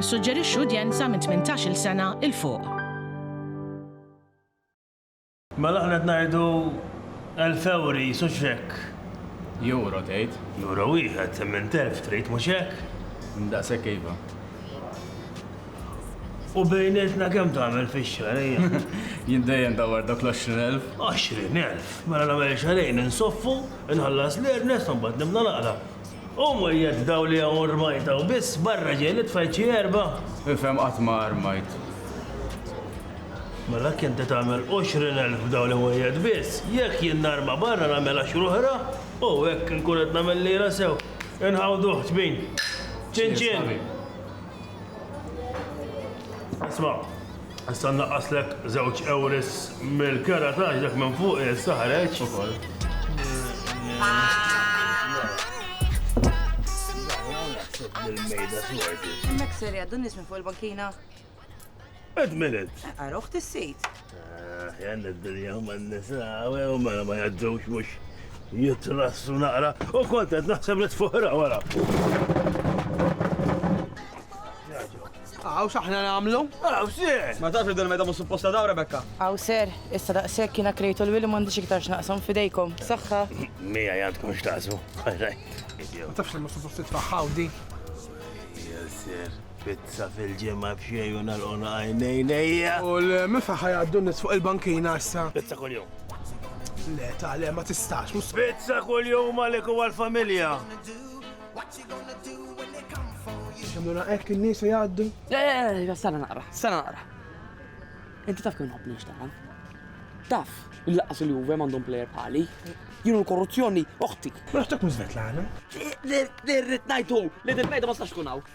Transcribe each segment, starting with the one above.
Nissuġġerixxu udjenza minn tmintax-il sena 'l fuq. Mela aħna qed ngħidu elf ewri, hux hekk? Ewro tgħid? Ewro wieħed, imint elf trid, mhux hekk? Daqshekk iva. U bejnietna kemm tagħmel fix-xahar, ejja? Jien dejjem dawwar dawk l-għoxrin elf. Għoxrin elf? Mela nagħmel xahrejn insoffu, inħallas l-earnest u mbagħad nibda naqra. Hu mwiegħed dawl li hawn rmajt hawn biss, barra ġej li tfajt xi erba'. Ifhem qatt ma armajt. Mela jekk inti tagħmel għoxrin elf b'dawl li mwiegħed biss, jekk jien narma barra nagħmel għaxru oħra u hekk inkun qed nagħmel lira sew. Inħawduh ċbin. Ċin ċin. Isma'. Issa nnaqqaslek żewġ ewris mill-kera ta' dak minn fuq issa ħareġ. Hemmhekk ser jgħaddu nies minn fuq il-bankina. Ed minute. Għaruħ tis-sejt. Jan ah, id-dinja huma n-nisa, u mela ma jgħaddux mhux jitrassu naqra u kontent naħseb li tfuħra wara. Jaġu. Għaw xaħna namlu? Għaw sir! Ma tafx din meta mhux supposta daw Rebekka. Għaw sir, issa daqshekk jiena krejtu l-wili m'għandix iktar x'naqshom fidejkom. Saħħa. Mija jgħandkom x'taqsmu. Ma tafx li mhux supposta tfaħħaw di. Ja sir, pizza fil-ġimgħa f'xejn u nagħlqona għajnejnejja. U l-mifa ħajgħaddu nis fuq il-bankina issa. Pizza kuljum. Le, ta' le, ma tistax. Pizza kuljum għalek u għal-familja. Xamluna hekk in-nies se jgħaddu? Eh, sara naqra, sara naqra. Inti taf kemm nħobb nixtaqan. Taf, il-laqas il-Juve m'għandhom plejer bħali. Jienu l-korruzzjoni oħti. Ma naħseb minn Svetlana. Dirrit ngħidu, li dirrit ngħidu ma stax kun hawn.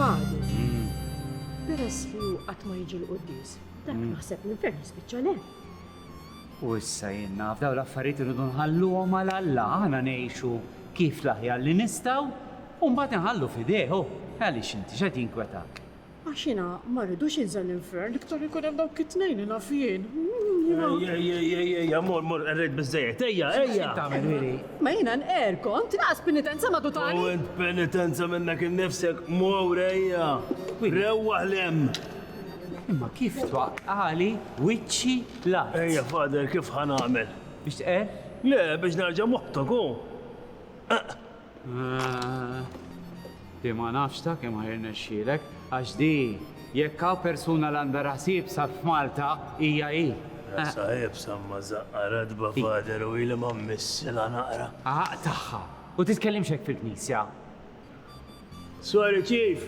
Fadi, peress li hu qatt ma jiġi l-quddies, dak naħseb li l-ferħ jispiċċa le. U issa jien naf dawn l-affarijiet irridu nħalluhom għal Alla, aħna ngħixu kif l-aħjar li nistgħu u mbagħad inħallu f'idejh, oh, għaliex inti x'qed jinkwetak? Għax jiena ma rridux jinżel l-infern iktar li jkun hemm dawk it-tnejn li naf jien. Jiena. Ejja, ejja, ejja, ejja, ejja, mor, mor, qerrejt biżżejjed, ejja, X'qed ejja! tagħmel, Willy? Ma jiena nqerr kont, naqas penitenza ma U dutani! int penitenza minnek innifsek, mor, ejja! Willy. Rewwaħ 'l hemm! Imma kif twaqqagħli wiċċi l-art? Ejja, Father, kif ħa nagħmel? Biex tqerr? Le, biex nerġa' moħbtok, hu! Eqq! Di ma nafx ta' kemm ħajrnexxielek, għax di jekk hawn persuna li għandha raħsib sar f'Malta hija hi. Rasa iebsa imma żaqqha ratba fader u ili ma mmissilha naqra. Għaq tagħha! U titkellimx hekk fil-knisja! Sorry Chief!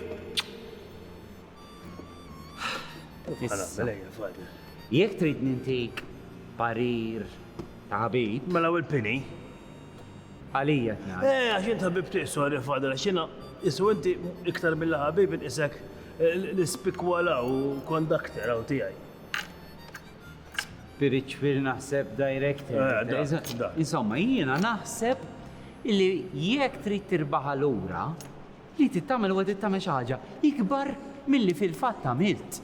Jekk trid nintik parir ta' ħabib. Mela u l-pini? Għalija tnad. Eh, għax int ħabib tiegħi, sorry Fadil, għax jiena isu inti iktar milli ħabib inqisek l-ispikwala u kondakter hawn tiegħi. Spiritual naħseb director. Insomma, jiena naħseb li jekk trid tirbaħha lura, Li trid tagħmel huwa trid tagħmel xi ħaġa ikbar milli fil-fatt għamilt.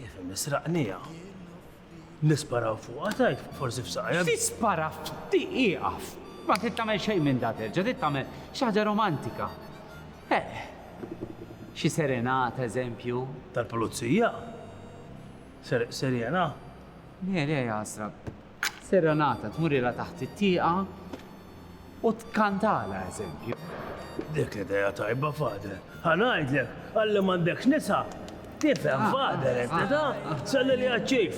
Ifhem, israqniha. Nisparaw fuqha tgħid, forsi f'saqajha. Tispara f'ti ieqaf. Ma trid tagħmel xejn minn da terġa', trid tagħmel xi ħaġa romantika. Eh, xi serenata, eżempju. Tal-pulizija? Serjena? Le, le, ħasra. Serenata, tmurilha taħt it-tieqa u tkantalha eżempju. Dik idea tajba, Father. Ħa ngħidlek, għalli m'għandekx nisa, tifhem, Father, inti taf, salli li għaċ-Chief.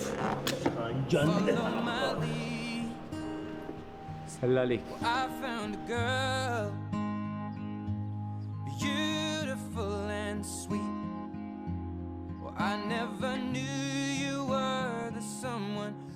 Sella għalik.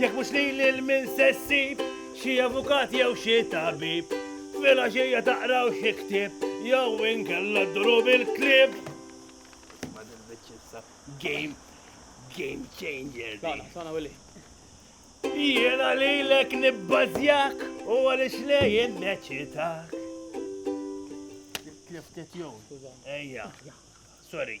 Jekk mhux lili l-min se ssib, xi avukat jew xi tabib, filgħaxija taqraw xi ktieb, jew inkella dduru bil-klieb. Ma nilbitx issa game, game changer. Sana, sana Willy. Jiena lilek nibbażjak u għaliex lejn neċitak. Kliftet jew. Ejja. Sorry.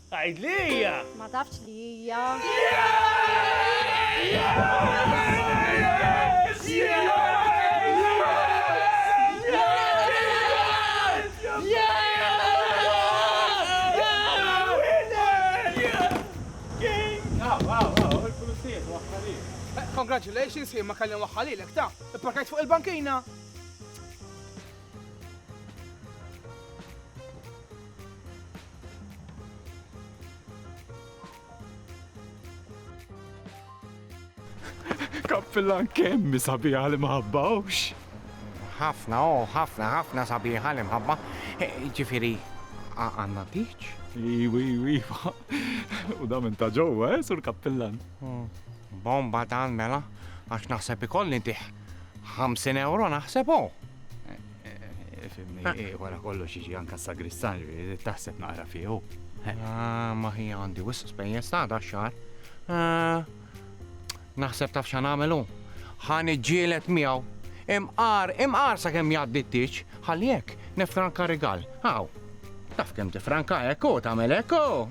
Għid li hija! Ma tafx li hija! Congratulations, jien ma kelli nwaħħalilek, ta! Ipparkajt fuq il-bankina! Kappillan kemmi sabiħa li maħabbawx. Ħafna, oh, ħafna, ħafna sabiħa li mħabba. Eh, ġifiri, għanna tiċ? Iwi, iwi, u da minn ta' ġowa, eh, sur kappillan. Hmm. Bomba dan mela, għax naħseb ikolli tiħ. 50 euro naħseb oh. Fimni, ah. eh, wara kollu xieġi anka sagristan, taħseb naqra fiħu. Ah, ma hi għandi wisq spejjeż ta' da xar. Ah, naħseb taf xan għamelu. Ħan iġġielet miegħu. Imqar, imqar sa kemm jgħaddi t-tieġ, ħalli hekk nefranka rigal. Hawn. Taf kemm tifranka hekk u tagħmel hekk u.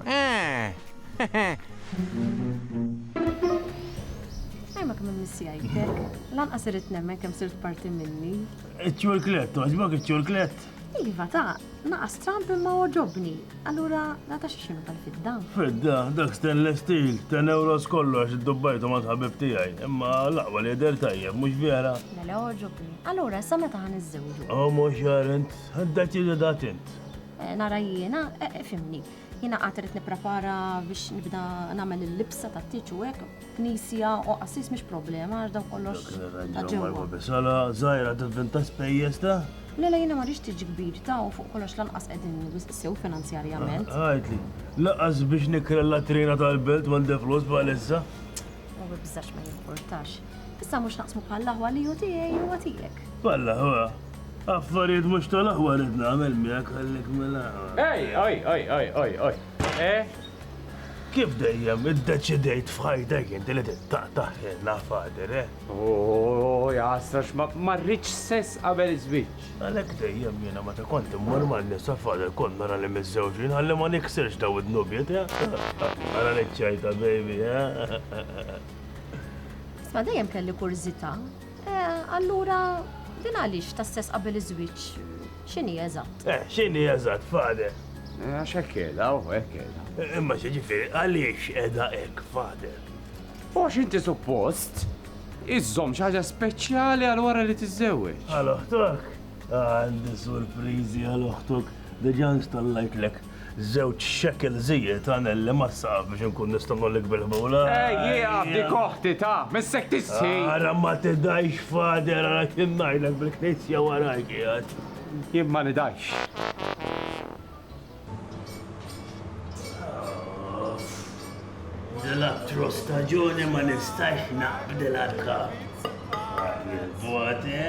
Ejma kemm missi għajtek. Lanqas irid nemmen kemm sirt parti minni. Iċ-ċurklet, toġbok iċ-ċurklet? Iva ta' naqas tramp imma oġobni. Allura nata xi xinu tal-fidda. Fidda, dak stainless steel, 10 euros kollox id-dubbajtu ma tħabib tiegħi. Imma laqwa li jidher tajjeb, mhux vera? Mela oġobni. Allura sa meta ħan iżżewġu? Omo xarent. Deċidi da tint. Eh, nara jiena, eh, eh, fimni. Jiena qatt irid nipprepara biex nibda nagħmel il-libsa ta' tiċu hekk, knisja u qassis mhix problema għax daw kollox. Ġewwa bisola, żgħira tivvinta spejjeż ta' Le le jiena ma rix tiġi kbir ta' u fuq kollox lanqas qegħdin sew finanzjarjament. Ah, Għajtli, laqas biex nikrella trina tal-belt m'għandi flus bħalissa. U bibżax ma jimportax. Issa mhux naqsmu bħall-aħwa li hu tiegħi huwa tiegħek. Bħall-aħwa? Affarijiet mhux tal-aħwa rrid nagħmel miegħek ħallik mill-aħwa. Ej, oj, oj, oj, oj, oj. Eh? Kif dejjem iddeċidejt f'ħajtek inti li tittaqtaħ ħilna fader, eh? Oh, jasra ma rridx sess qabel iż-żwieġ. Għalhekk dejjem jiena meta kont immur man-nisa fader kont nara li miżżewġin ħalli ma niksirx daw id-nubiet, eh? Ara li ċajta baby, eh? Isma' dejjem kelli kurżità. Eh, allura din għaliex ta' sess qabel iż-żwieġ x'inhi eżatt? Eh, x'inhi eżatt, Fader? Eh, għax hekk kelha, u hekk kelha. Eh, imma xi ġifieri għaliex qiegħda hekk, Fader? U għax inti suppost iżżomm xi ħaġa speċjali għal wara li tiżżewweġ. Għal oħtok? Għandi surpriżi għal oħtok, diġà installajtlek Żewġ shekel żied għanelli mas-saqaf biex inkun nista' ngħollik bil-ħbula. Ejjieqaf dik oħti, ta! Missek tistħi! Ara ma tidgħix Father, ara x'in ngħidlek bil-Knisja waraj qiegħed. Jien ma nidgħix. Dil-attru staġuni ma nistax naqbdilha l-kap. Ara l-voti.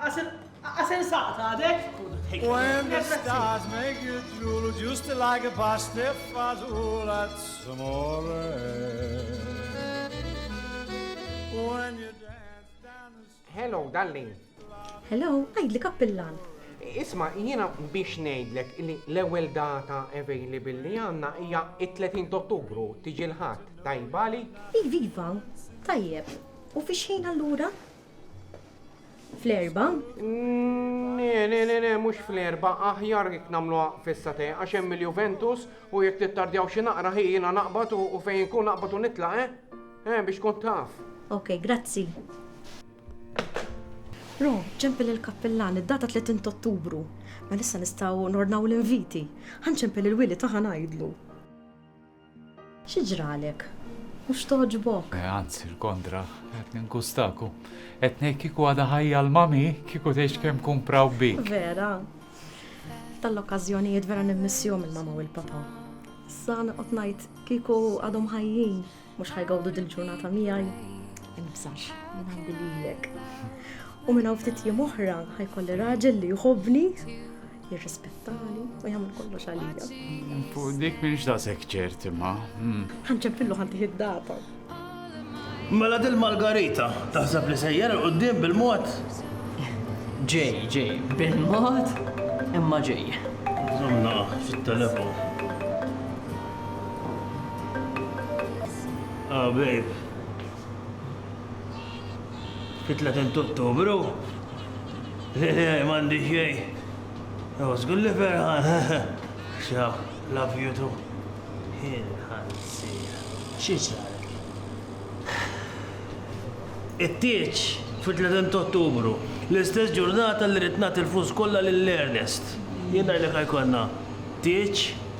Għasen saqt għadek? When the stars make you drool, just like a pasta fazool, that's amore. When you dance down the street. Hello, darling. Hello, għajd li kappillan. Isma, jiena biex ngħidlek li l-ewwel data available li għandna hija it-30 Ottubru tiġi l-ħadd tajba li. Iva, iva, tajjeb. U fix ħin allura? Fl-erba? Ne, ne, ne, ne, mux fl-erba, aħjar jek namlu fissa te, għaxem il-Juventus u jek tittardjaw xi naqra ħi jina naqbad u fejn kun naqbad u nitla, eh? Eh, biex kont taf. Ok, grazzi. Ro, ċempel il-kappellan, id-data 30 ottubru. Ma nissa nistaw nornaw l-inviti. Għan ċempel il-wili taħan għajdlu. Xi ġralek? Mhux togħġbok? Eh, anzi, l-kontra, qed ningustaku. Qed ngħid kieku għadha ħajja l-mami, kieku tgħix kemm kun praw bik. Vera. Tal-okkażjonijiet vera nimmissjom il-mama u l-papa. Sa noqgħod ngħid kieku għadhom ħajjin, mhux ħajgawdu dil-ġurnata miegħi. Inbżax, jien għandi lilek. U minn hawn ftit jiem oħra ħajkolli raġel li jħobbni jirrispettani u jagħmel kollox għalija. Fuq dik minix da sekċert imma. Hmm. Ħanċempillu ħanti id-data. Mela dil Margarita, taħseb li sejjer il-qoddim bil-mod? Ġej, ġej, bil-mod imma ġej. Zomna, fit-telefon. Ah, babe. Fit-30 ta' Ottubru, m'għandi xejn. Jew żgur li ferħan. Ciao, love you too. Ħansir. Xi sar? It-tieġ fit-30 ta' Ottubru, l-istess ġurnata li rid nagħti l-flus kollha lil Ernest. Jien ngħidlek ħajkollna tieġ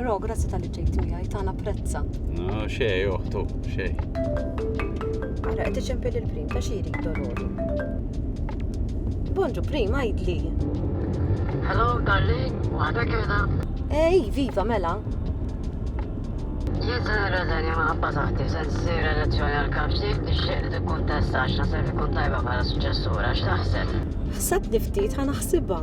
Ro, grazzi tal-li ġejt miegħi, ta' napprezza. No, xej, oħtu, xej. Ara, qed iċempel il-prim, ta' xiri dolori. Bonġu, prim, għajdli. Hello, darling, waħda kena. Ej, eh, viva, mela. Jien se nirreżenja ma' ħabba taħti, se nsir elezzjoni għal kap ġdid nixtieq li tikkuntesta għax naseb ikun tajba bħala suċċessura, x'taħseb? Ħseb niftit ħana ħsibha.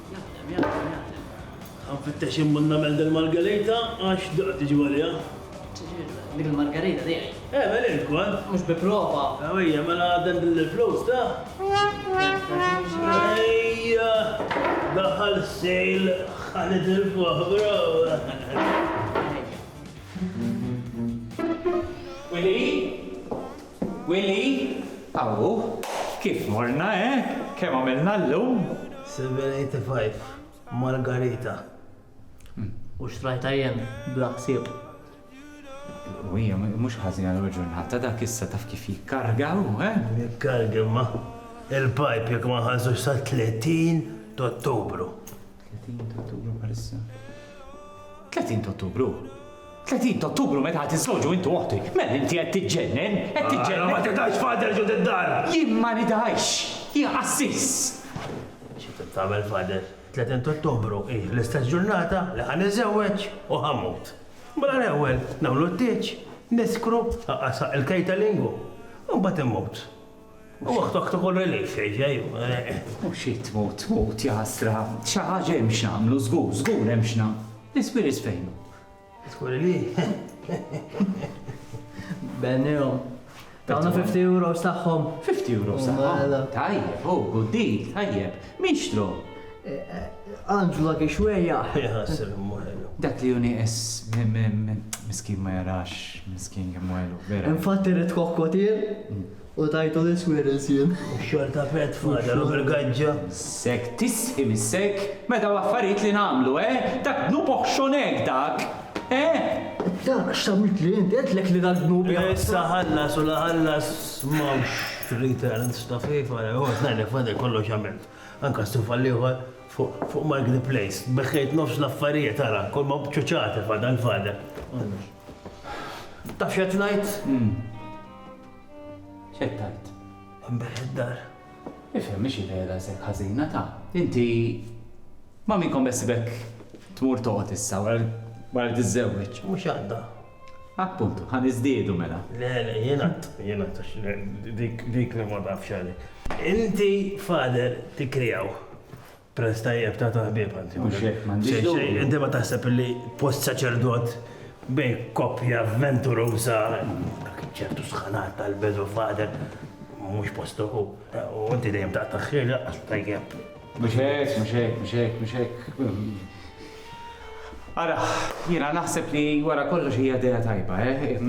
Jaħdem, jaħdem, jaħdem. Ħanfittex immur nagħmel dil-margarita għax diqa' tiġi għalija. Ġifieri, dik il-margarita tiegħi? Egħmel int ukoll. Mhux bi prova! Ejja, mela dendel il-flus, ta? Ejja, daħal sale ħa nitilfuh, bro! Ejja. Willy? Willy, Awwu, kif morna, eh? Kemm għamilna llum? 785, Margarita, U xtrajtha jien, bla ħsieb. U hija mhux ħażina l-ewwel ġurnata, dak issa taf kif jikkarga hu, eh? Jikkarga imma il-pajp jekk ma nħallsux sat-30 t'Ottubru. 30 t'Ottubru bħalissa. 30 t'Ottubru? 30 t'Ottubru meta ħatiżżewġu int u oħtik. Mel inti qed tiġġennen? Qed tiġġennen? Ara ma tidhajx Father ġo did-dar! Jien ma nidhajx! Jien qassis! Xi trid tagħmel Father? 30 t'Ottubru hi l-istess ġurnata li ħa niżżewweġ u ħa mmut. Mela l-ewwel nagħmlu t-tieġ, niskru, aqqa' saq il-kejta lingu. Imbagħad immut. U oħtok tkun relief, xejn. U xi tmut tmut, jaħasra. Xi ħaġa hemm x'nagħmlu, żgur, żgur hemm x'nagħmlu. L-ispirits fejn hu? Żgur li. Bennihom. Tawna 50 euros tagħhom. 50 euros tagħhom. Tajjeb, oh, good deal, tajjeb. Min xtru? Angela Kixweja. Jħassel mwelu. Dak li juni es miskin ma jarax, miskin jemwelu, vera. Infatti rrit kokkotir, U tajtu l-iswirils jien. U x-xogħol ta' Fred fadal u bil-gaġġa. Sek tisqi mis-sek. Me daw affarijiet li nagħmlu, eh? Dak dnub oħxon hekk dak, eh? Dak x'tawitli int? Għedtlek li dak dnub jaqta'. Issa ħallas u la ħallas m'hawnx returns ta' FIFA, jew ħa tnajlek fadal kollox għamilt. Anka s-suf għall-ieħor fuq Margate Place. Beħħejt nofs l-affarijiet ara, kolma b'ċuċati fadal fadal. Taf x'qed ngħid? X'qed tgħid? Inbigħ id-dar. Ifhem mhix idea daqshekk ħażina ta'. Inti ma' min kont beħsibek tmur toqgħod issa wara li tiżżewweġ? Mhux għadha. Appuntu, ħa niżdiedu mela. Le, le, jien għad, jien għad għax le, dik dik li ma tafx għalik. Inti fader tikkrijaw. Prez tajjeb ta' taħbib għanti. Mhux hekk m'għandix dubju. Inti ma taħseb li post saċerdot bej koppja avventuruża dak ċertu sħanat tal-bedu fader mhux postu u inti dejjem ta' taħħir laqqas tajjeb. Mhux hekk, mhux hekk, mhux hekk, mhux hekk. Ara, jiena naħseb li wara kollox hija idea tajba, eh?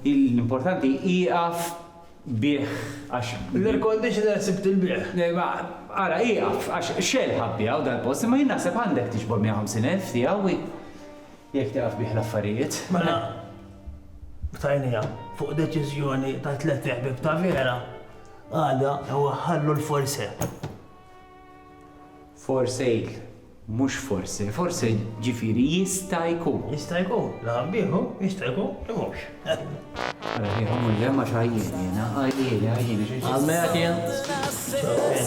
L-importanti ieqaf bih għax. L-air conditioner sibt il-bejgħ. Imma ara ieqaf għax xell ħa bbiegħu dal-post imma jien naħseb għandek tiġbor 150 elf tiegħu jekk tieqaf bih l-affarijiet. Mela btajnija fuq deċiżjoni ta' tliet iħbieb ta' vera għada jew ħallu l-forse. For sale, mhux forse. Forse ġifieri jista' jkun. Jista' jkun li ħabbieħ hu, jista' jkun li mhux. Ara kif imur l-hemm għax għajjien jiena, għajjien, għajjien għax inġib. Għalmejat jien?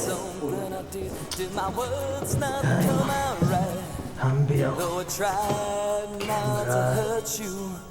Ċaw, Ken. Ħanbigħu. Ken ra.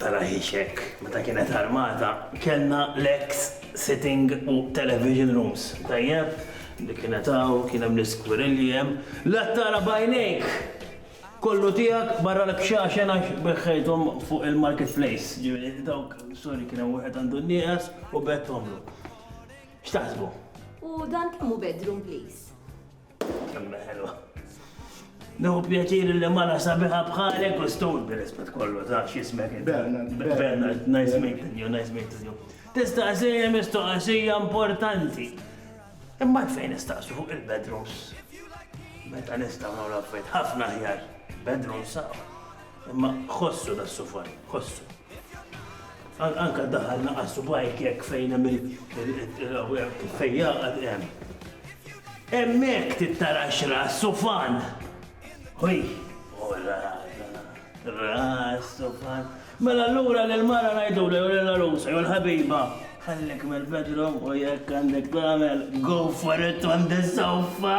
Tarahiex hekk, meta kienet armata kellna l-eks sitting u television rooms, tajjeb? Li kienet hawn, kien hemm l-iskwirilli hemm, la tara b'għajnejk! Kollu tiegħek barra l-kxaxen għax beħħejthom fuq il-market place, ġifieri dawk, sorry, kien hemm wieħed għandu n-nieqes u bgħedthomlu. X'taħsbu? U dan kemm hu bedroom please? Kemmi ħelwa. Nħu pjaċir li mara sabiħa bħalek u stun bil-rispet kollu ta' xismek. Bernard. Bernard, nice meeting you, nice meeting you. Tista' għasija mistoqasija importanti. Imma fejn nistaqsu fuq il-bedrooms. Meta nistgħu nagħmlu affarijiet ħafna ħjar. Bedrooms sa' Imma ħossu das-sufan, ħossu. Anka daħal naqa' subajk hekk fejn hemm il-fejn jaqgħad hemm. Hemmhekk tittara xra sufan. Ħuj, ora, ras, sufan. Mela allura l-mara ngħidu l l-arusa jew l-ħabiba. Ħallek mill-bedroom u jekk għandek tagħmel go for it on the sofa.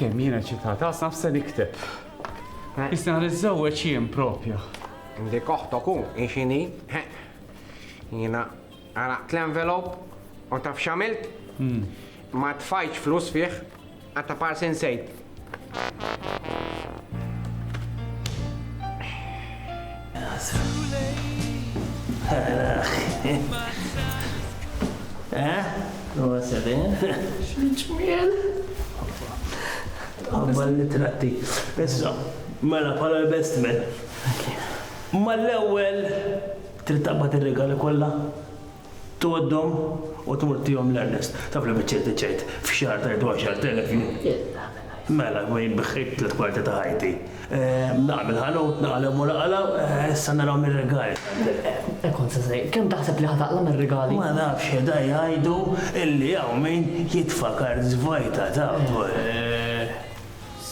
Kemm jiena ċitata, għasna f'se nikteb. Isna li żewweġ jien propja. Indi koħtok u, inxini, jiena għalaqt l-envelop u taf xamilt? Hmm. Ma tfajċ flus fih, Għatta parsi insejt. Eh? U għasabin? Xmiċmiel? Għabba l-tratti. Issa, mela pala l-bestmen. Ma l-ewel, trid taqbad ir-regali kollha. Tgħoddhom u tmur tihom l-Ernest. Taf li biċċejt biċċejt f'xahar tgħid għaxart elef jien. Mela, jien biħħejt tliet kwarti ta' ħajti. Naqa' mill-ħanut, naqa' hemm u naqa' 'l hawn, issa narahom ir-rigali tgħidilli. Kont se ngħid, kemm taħseb li ħad aqla' mir-rigali? Ma nafx, qiegħda jgħidu illi hawn min jitfa' kards vojta, taf.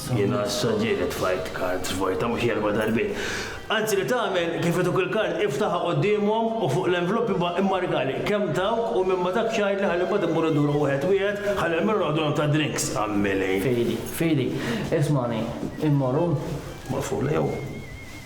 Jiena issa ġieli tfajt cards vojta mhux erba' darbiet. Anzi li tagħmel kif ituk il-kard iftaħha quddiemhom u fuq l-envlop immarkali kemm tawk u minn ma dak x'għidli ħalli mbagħad immur induru wieħed wieħed ħalli almenu noqogħdu nagħtu għad-drinks, għammieli. Fidi, Fidi, ismagħni, immorru? Morfula jew.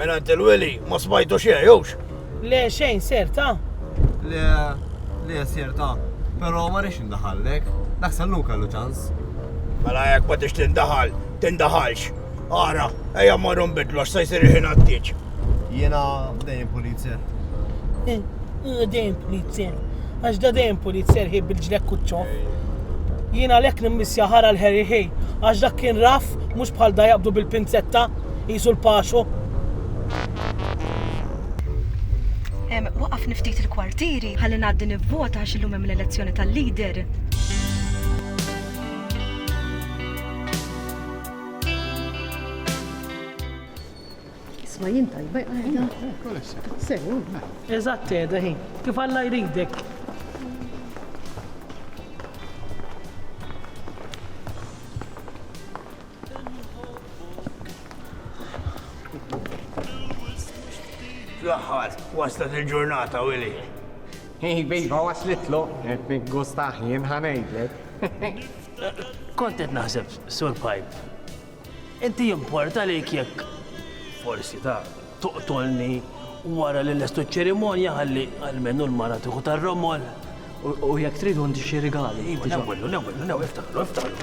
Minn għand il-weli ma smajtu xejn, jewx? Le, xejn, ser ta'? Le, le, ser ta'. Però ma rridx indaħallek. Dak sallun kellu ċans. Mela jekk ma tix tindaħal, tindaħalx. Ara, ejja mmorru nbidlu għax se jsir il-ħin għat-tieġ. Jiena dejjem pulizzer. Eh, eh, dejjem pulizzer. Għax da dejjem pulizzer ħib bil-ġlek kuċċo. Jiena lek nimmissja ħara l-ħeri ħej. Għax dak kien raf, mhux bħal da jaqbdu bil-pinzetta, jisu l-paxu. Waqaf niftit il-kwartieri, ħalli ngħaddi nivvota għax illum hemm l-elezzjoni tal-leader. Isma' jien tajba jqajda. Sew. Eżatt qiegħda ħin. Kif Alla jridek. Fl-aħħar, waslet il-ġurnata, Willy. Hi, bejba waslitlu, qed nikgustaħ jien ħanejdlek. Kont qed naħseb, Sur Pipe, Inti jimportalik jekk forsi taf toqtolni wara li lestu ċ-ċerimonja ħalli almenu l-mara tieħu tar-romol? U jekk trid għandi xi rigali. Iva, newwillu, newwillu, newwillu, iftaħlu, iftaħlu.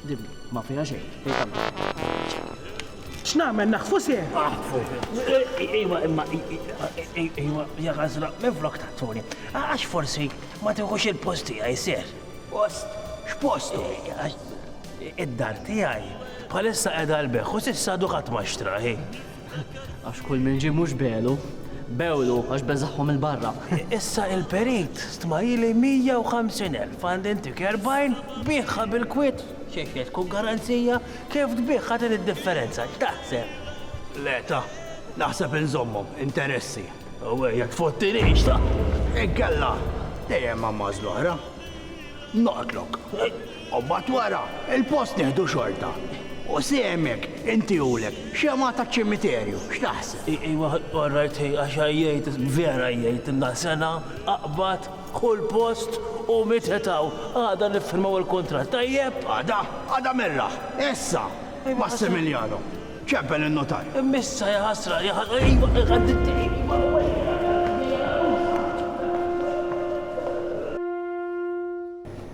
Dimmi, ma fija xejn. X'nagħmel naħfu se? Aħfu. Iwa imma iwa ja għażla minn flok tattuni. Għax forsi ma tieħux il-post tiegħi ser. Post? X'post? Id-dar tiegħi bħalissa qiegħda l-beħ u s'issa dukat ma xtraħi. Għax kull min ġie mhux belu, bewlu għax beżagħhom 'il barra. Issa il-perit stmajili 150 elf għand intik 40 biegħha bil-kwiet xi se tkun garanzija kif tbiegħha din id-differenza x'taħseb? Le ta, naħseb inżommhom interessi u jekk tfottinix ta, inkella dejjem għammaż l-oħra. Noqtlok. U mbagħad wara, il-post nieħdu xorta. U sehmek, intiehulek, xemgħa taċ-ċimiterju. X'taħseb? Ejwa, all right, ħej, għax għajjejt, vera għajjejt, ilna sena, aqbad, ħu l-post u mitħet hawn. Għada niffirmaw il-kuntratt, tajjeb? Għada, għada merraħ, issa! Massimiliano, ċempel in-nutar. Imma issa, jaħasra, jaħasra, ejwa, ejwa!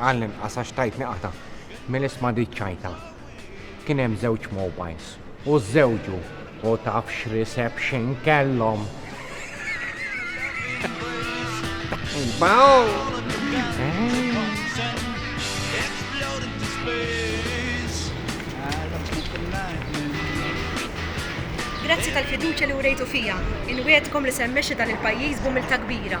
Għall-inqas għax tajtni qatgħa mill-isma' di ċ-ċajta. Kien hemm żewġ mobiles u żżewġu u taf x'reception kellhom! Imbagħad! Grazzi tal-fiduċja li wrejtu fija. Inwiegħdkom li se mmexxi dan il-pajjiż b'umiltà kbira.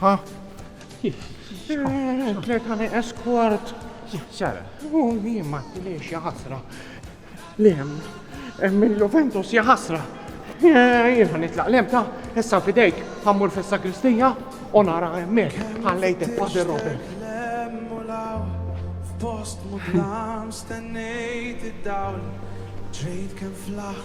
Ha? Tlet għani eskwart. Sara. U jien ma tiliex jaħasra. Lem, minn Juventus jaħasra. Jien għan itlaq lem ta' issa fidejk għammur fissa Kristija u nara emmek għallejtek Padre Robert. Post mudlam stennejt id-dawl, ġrejt kem flaħ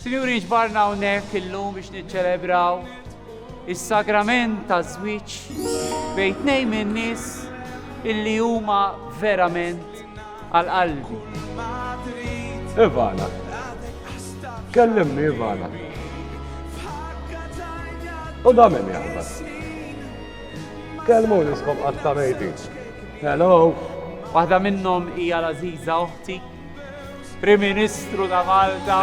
Sinjuri ġbarna hawnhekk illum biex niċċelebraw is-sagrament ta' żwieġ bejn tnejn min-nies illi huma verament għal qalbi. Ivana. Kellimni Ivana. U da min jaħbas. Kelmu niskom qatta mejti. Hello! Waħda minnhom hija l-Aziza oħti, Prim Ministru ta' Malta.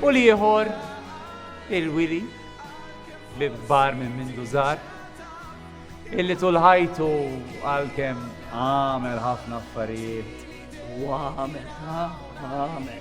U liħor il-Wili li kbar minn minn dużar illi tulħajtu għal-kem għamel ħafna affarijiet u għamel għamel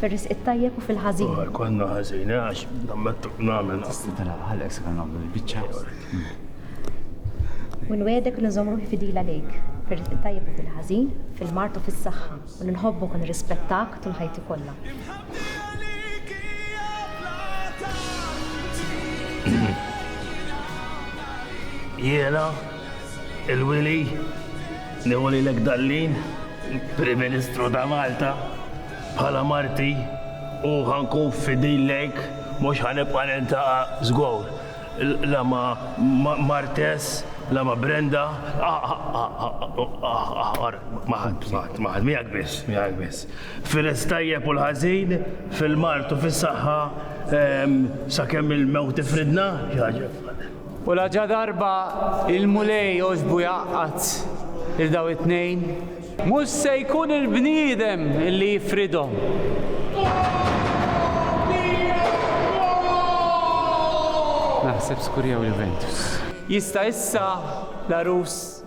Fir-risq it-tajjeb u fil-ħażin. Imma jkollna ħażin, eh, għax nammettu nagħmel. Tista' tara għalhekk se nagħmlu l-biċċa. U nwedek li nżomm ruħi fidila lejk, fir-risq it-tajjeb u fil-ħażin, fil-mard u fis-saħħa, u li nħobbok u nirrispettak tul ħajti kollha. Jiena. Il-Wili, nieħu lilek Dallin, il-Prim Ministru ta' Malta, bħala marti u ħa nkun fidil lejk, mhux ħa nibqa' niltaqa' żgur la ma' Martes, la ma' Brenda, ma' ħadd, ma' ħadd, ma' ħadd, miegħek biss, miegħek biss. Fil-tajjeb u l-ħażin, fil-mard u fis-saħħa, sakemm il-mewt ifridna, xi ħaġa bħal hekk. U laġadarba il-Mulej għoġbu jgħaqqad lil dawn it-tnejn. Mhux se jkun il-bniedem li jifridhom. Naħseb skurjaw Juventus. Jista' issa l-għarus.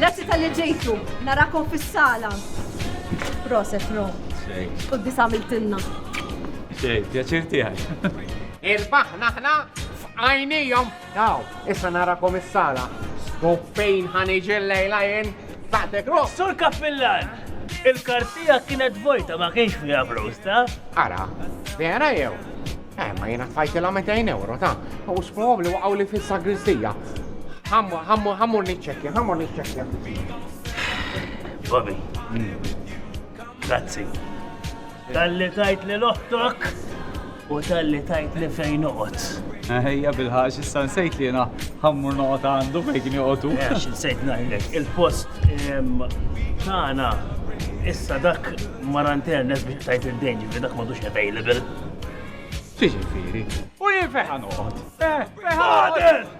Grazzi tal-li ġejtu, narakom fis-sala. Proset, no. U d-disa għamiltinna. Xej, pjaċir tiegħek. Irbaħ naħna f'għajnijom Aw, issa narakom is-sala. U fejn ħa niġi llejla jien? F'Attic Room! Sur Kappillan! Il-kard tiegħek kienet vojta ma kienx fiha flus, taf? Ara, vera jew? Eh, ma jiena tfajtilha mitejn ewro, ta? U sprobabbli waqgħuli fis-sagristija. Ħa mmur niċċekkja, ħa mmur niċċekkja. Bobby. Grazzi. Talli tajt lil oħtok u talli tajt li fejn noqgħod. Ejja bil-ħax issa nsejt li jiena ħammur noqgħod għandu fejn kien joqgħodu. Għax insejt ngħidlek, il-post tagħna issa dak maranternes biex tajt id-dejn ġifieri dak m'għadux available. Xi ġifieri? U jien fejn ħanoqgħod? Eh, fejn ħanoqgħod?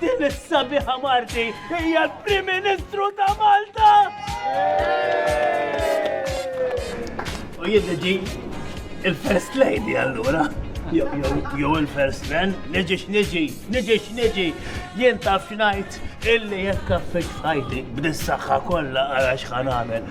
Din is-sabiħa Marti hija l-Prim Ministru ta' Malta! U jiddeġi il-First Lady allura. Jew il-First Man, niġi x'niġi, niġi x'niġi, jien taf x'ngħid illi jekk affeċ fajti b'dis-saħħa kollha għal x'ħan għamel.